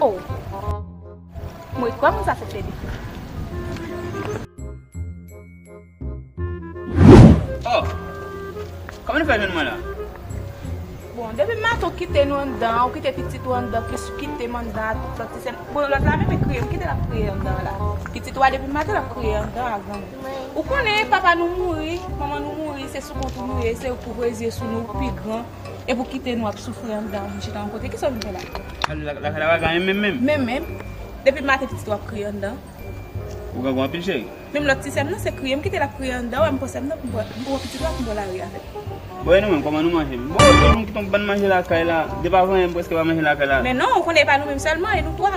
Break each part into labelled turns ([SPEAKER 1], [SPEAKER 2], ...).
[SPEAKER 1] Oh m ret kwè moun sa se Fedou.
[SPEAKER 2] Oh Kòman nou fè jwenn mwen la?
[SPEAKER 1] Bon depi maten w kite nou anndan an, w kite pitit ou anndan plis ou kite m anndan ak lòt ti sè m, bon lòt la menm e kriye m kite l ap kriye anndan la. Pitit ou a depi maten l ap kriye anndan a granmoun. Ou konnen papa nou mouri, manman nou mouri se sou kont ou nou ye, se ou k ouvre zye sou nou, ou pi gran. Epi ou kite nou ap soufri andan ou vin chita yon kote, kisa ou vin fè la? Lakay la pa gen anyen menm menm.
[SPEAKER 2] Menm menm.
[SPEAKER 1] Depi maten pitit ou ap kriye andan. Ou grangou
[SPEAKER 2] anpil cheri. Menm lòt ti sè m nan se
[SPEAKER 1] kriye m kite l ap kriye andan wè m pran sè m nan pou m pran, m pou pran pitit la pou m pran lari avè l. Bon e nou menm kòman
[SPEAKER 2] nou manje menm? Bon se nou ki ton bann manje lakay la, depi avanyen m prèske pa manje lakay la. Men non, ou konnen e pa nou menm
[SPEAKER 1] sèlman, e nou twa.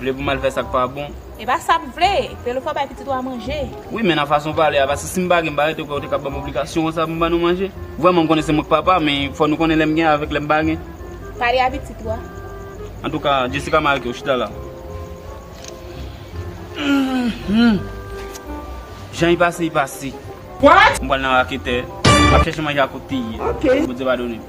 [SPEAKER 2] Vle pou m al fè sa k pa bon. E pa sa m vle!
[SPEAKER 1] Fè l ou fè w bay pitit ou a manje. Wi men nan fason pale
[SPEAKER 2] a paske si m pa gen m pa rete kwè ou te ka ban m obligasyon konsa pou m ban nou manje. Vrèman m konnen se mwen k papa men fò nou konnen lè m gen avèk lè m pa gen. Pale a pitit
[SPEAKER 1] ou a. Antouka
[SPEAKER 2] Jessica m arete w chita la. Jan y pase y pase. What! M
[SPEAKER 1] pral nan raketè.
[SPEAKER 2] M ap chèche manje ak ou tii. Ok. Bondye padone m.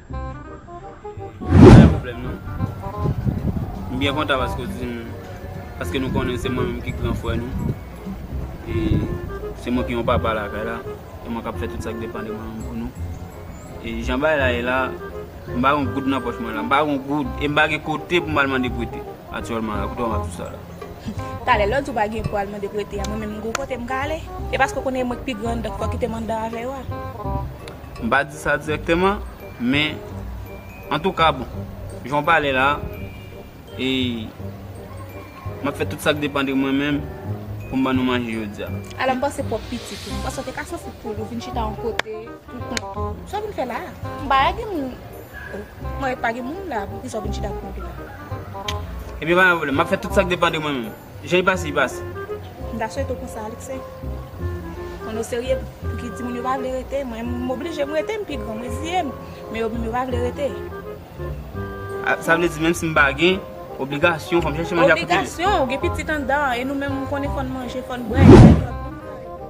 [SPEAKER 2] Mwen pa gen pwoblèm non. M byen kontan paske w di m, paske nou konnen se mwen menm ki gran frè nou. E se mwen ki yon papa lakay la. Se mwen k ap fè tout sa ki depan de mwen pou nou. E jan bagay la ye la, m pa gen yon goud nan pòch mwen la. M pa gen yon goud. E m pa gen kote pou m al mande prete aktyèlman la. Kote w ap di sa la? Talè lè w
[SPEAKER 1] di w pa gen pou w al mande prete a, mwen menm m gen yon kote m ka ale. E paske w konnen e mwen ki pi grann, donk fò w kite m anndan avè yo a. M pa
[SPEAKER 2] di sa direkteman, men antouka bon, jan w pale la, e m ap fè tout sa k depan de mwen menm pou m ban nou manje jodi a. Alò m panse pwòp
[SPEAKER 1] pitit ou. M panse w te ka santi poul ou vin chita yon kote pou kont ou. Sa w vin fè la a? M pa wè gen moun. O, m wè pa gen moun la a, poukisa w vin chita pou kont ou la?
[SPEAKER 2] Ebyen pa gen pwoblèm, m ap fè tout sa k depan de mwen menm. Jan y pase y pase. M ta swete w konsa
[SPEAKER 1] Alexis. Konn o serye pouki timoun yo pa vle rete mwen m oblije m rete m pi gran m reziye m men yo menm yo pa vle rete.
[SPEAKER 2] Sa vle di menm si m pa gen obligasyon fò m chèche manje a kote li. Obligasyon ou gen pitit
[SPEAKER 1] anndan an e nou menm ou konnen fò n manje fò n bwè e se lòd moun kare pou ou.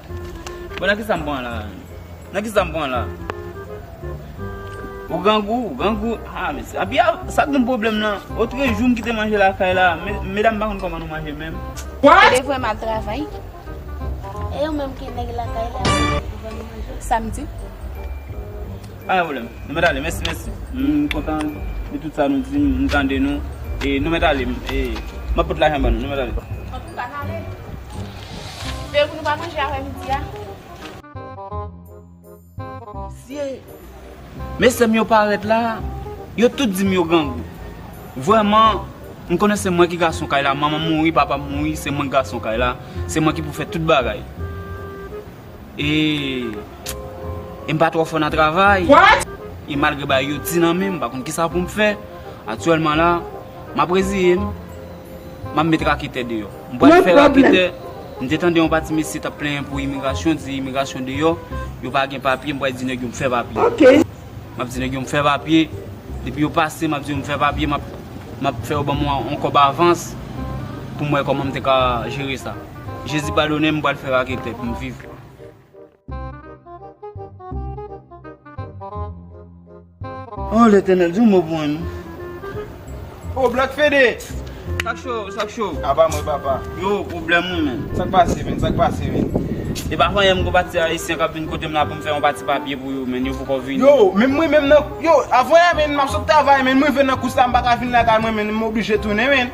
[SPEAKER 1] Bon nan
[SPEAKER 2] kisa m pran la menm? Nan kisa m pran la? Ou grangou, ou grangou. Ah mesye. Api a, sa k nou pwoblèm la? Otrejou m kite manje lakay la. Medam m pa
[SPEAKER 1] konn kòman
[SPEAKER 2] nou manje
[SPEAKER 1] menm.
[SPEAKER 2] Ou
[SPEAKER 1] te
[SPEAKER 2] vrèman al travay? E
[SPEAKER 3] ou menm ki nèg lakay la, ou te vrèman al travay? Samdi.
[SPEAKER 2] Pa gen pwoblèm. Nou mèt ale. Mèsi, mèsi. M kontan de tout sa nou di m. M tande nou. E nou mèt ale. E m ap pot lajan ban nou. Nou mèt ale. Antouka, n ale.
[SPEAKER 1] Veye pou nou pa manje aprè midi
[SPEAKER 2] a. Mesye m yo parèt la. Yo tout di m yo grangou. Vrèman, m konnen se mwen ki gason kay la. Manman m mouri, papa m mouri. Se mwen ki gason kay la. Se mwen ki pou fè tout bagay. E m pa twò fò nan travay. E
[SPEAKER 1] malgre bagay yo
[SPEAKER 2] di nan men m pa konn kisa pou m fè. Aktyèlman la, m ap reziye m. M ap met raketè deyò. M pral fè raketè. M te tande yon pati mesye t ap plenyen pou imigrasyon, di imigrasyon deyò, yo pa gen papye. M pral di nèg yo m fè papye. M ap di nèg yo m fè papye. Depi yo pase, m ap di yo m fè papye. M ap fè yo ban m yon kòb avans pou m wè kòman m te ka jere sa. Jezi padonem m pral fè raketè pou m viv. Oh Letènèl di yon mo pou mwen non.
[SPEAKER 4] Oh Black Fede! Sak cho, sak
[SPEAKER 2] cho? Aba mwen papa.
[SPEAKER 4] Yo, pwoblèm mwen
[SPEAKER 2] menn. Sak pase menn, sak
[SPEAKER 4] pase menn? Epa fanyè
[SPEAKER 2] m gwo pati ayisyen kap vin kotem la pou m fè yon pati papye pou yo menn, yo poko vini. Yo, menm mwen menm nan,
[SPEAKER 4] yo, avanyè menn map sot travay menn m rive nan kous la m paka vin lakay mwen menn m oblije tounen menn.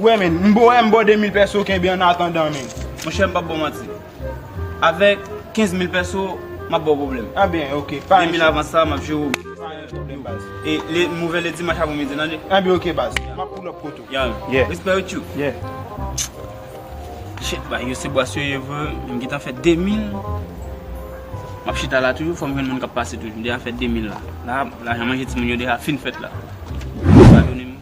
[SPEAKER 2] Wè
[SPEAKER 4] men, m bo 1 m bo 2 mil pèso kenbe an atandan men. Monchè m pap baw manti.
[SPEAKER 2] Avèk 15 mil pèso, m ap baw pwoblèm. Anben ok, pa yon sou. 2
[SPEAKER 4] mil avan sa, m ap
[SPEAKER 2] jere w. Pa yon pwoblèm
[SPEAKER 4] baz. E le m ouvè le
[SPEAKER 2] dimanch avan midi tande. Anben ok baz.
[SPEAKER 4] M ap poulòp kot ou. Yan. Yeah. Respè yo tchou. Yeah.
[SPEAKER 2] Shit bagay yo se bwasyo ye vre, m gentan fè 2 mil. M ap chita la toujou, fò m jwenn moun k ap pase toujou. M deja fè 2 mil la. La, lajan manje timoun yo deja fin fèt la. Yo pa donnen m.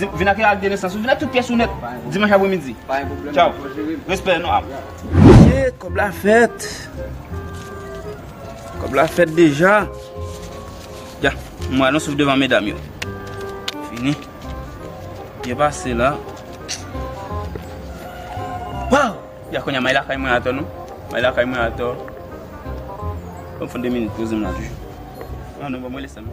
[SPEAKER 2] Vin ak yon ak de nesans ou vin ak tout pyès ou nèt dimanch apre midi. Tchaw.
[SPEAKER 5] Respè
[SPEAKER 2] nou ap. Mesye kòb la fèt. Kòb la fèt deja. Ya. Mwen alon souf devan medam yo. Fini. Byen pase la. Waw. Ya konya may lakay mwen atò nou. May lakay mwen atò. Mwen fon de minit poze m la toujou. Nan nan mwen lese m.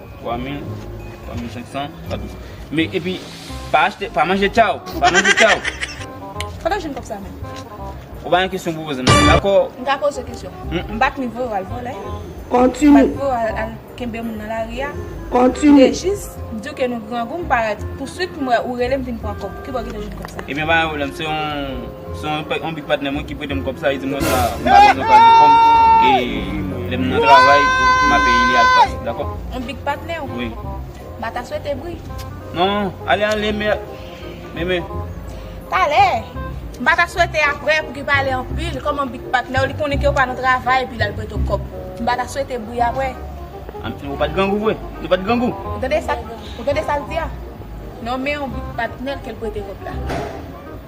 [SPEAKER 2] 3000 3500 Padon Men epi Pa achte Pa manje tchaww Pa manje tchaww Kote w jwenn
[SPEAKER 1] kòb sa menm? Ou pa gen
[SPEAKER 2] kesyon pou poze m nan Dako M ka poze w kesyon
[SPEAKER 1] M pa t vin voye w al vòlè M pa t
[SPEAKER 6] voye w al
[SPEAKER 1] kenbe moun nan lari a M te
[SPEAKER 6] jis di w
[SPEAKER 1] ke nou grangou M pa pouswit m wè ou rele m vin pran kòb Kibò w te jwenn kòb sa? Ebyen pa gen pwoblèm Se
[SPEAKER 2] yon Se yon anpil patnè mwen ki prete m kòb sa, li di mwen sa m pa bezwen pral pou kòm e lè m nan travay m a peye li al pas. Dakò? Anpil patnè w? Wi. M pa ta swete
[SPEAKER 1] bri. Non, ale
[SPEAKER 2] ale me meme. Talè!
[SPEAKER 1] M pa ta swete aprè pou ki pale anpil kòm anpil patnè w li konnen ke w pa nan travay epi l al prete w kòb. M pa ta swete bri aprè. Anpil ou pa t
[SPEAKER 2] grangou vre? Nou pa t grangou?
[SPEAKER 1] Ou tande sa l di a? Nonmen anpil patnè l ke l prete kòb la.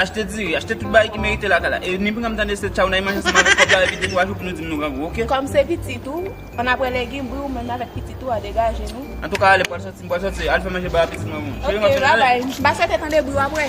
[SPEAKER 2] Achte diri, achte tout bagay ki merite lakay la. E ni pranm tande se tchaw nan imaj ansanm avèk kòb la epi de twa jou pou nou dim nou grangou ok. Kòm se pitit ou,
[SPEAKER 1] an aprè legim wi ou menm avèk pitit ou a degaje nou. Antouka ale pral sòti m
[SPEAKER 2] pral sòti al fè manje ba pitit mwen bon. Cheri m ap sòti ale. Ok bye bye m pa
[SPEAKER 1] swete tande bri w aprè.